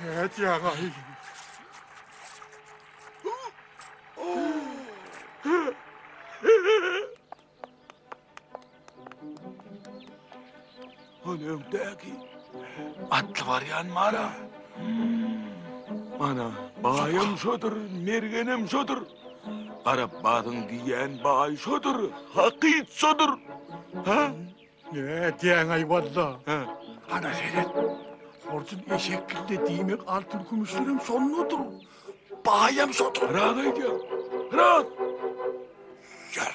Näet ýa gaýy. Ol öňdäki atly barýan mara. Ana, baýam şodur, mergenem şodur. Garap badyň diýýän baý şodur, hakyt şodur. Ha? Nä diýäň-aý walla? Hä. Ana seret. Horjun eşek gilde diýmek altyn kümüşlerem şondadyr. Baýam şodur. Raz aýdýar. Raz. Ýör.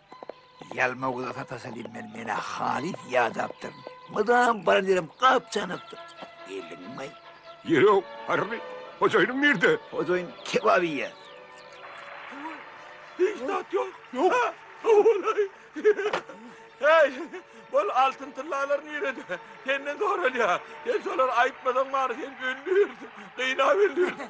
Ýalma göze satasy diýip men menä halys ýadapdyryn. Mydam baran ýerim gap-janakdyr. Geldiňmi? Ýok, Harri. Hojaýynyň nirde? Hojaýyn kebap iýýär. Hiç zat ýok. Ýok. Howulaý. Heý, ol altyn-tyllalar nirede? Senden soralýar. Sen şolary aýtmasaň bary, sen öldürirsiň, gynap öldürirsiň.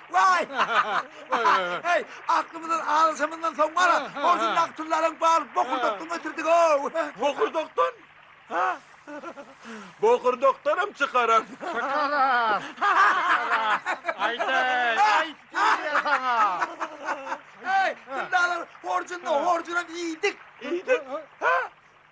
Waý! Heý, aklymyzdan alyşymyzdan soň bar-a, goşundaky tyllaryň baryny bokurdakdan getirdik-ow! Bokurdakdan? Ha? Bokurdakdanam çykarar. Çykarar, çykarar. Aýdaý, aýt diýýär saňa. Heý, tyllalary horjunda-horjunam iýdik. Iýdik? Ha?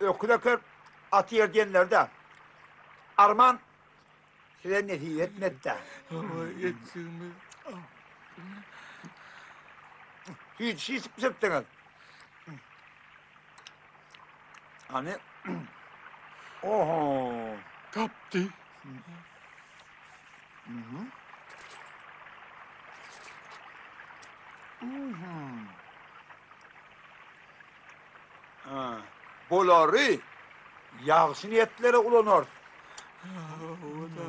Öküz eker, at ýer diýenlerde, arman size nesip etmedi-dä. Hawa, etjegimiz. Hiç hiç bitirdiňiz. Ani. Oho. Tapdy. Aha. Aha. Ha. Bolary ýagşy niýetlere ulanarys. Oda.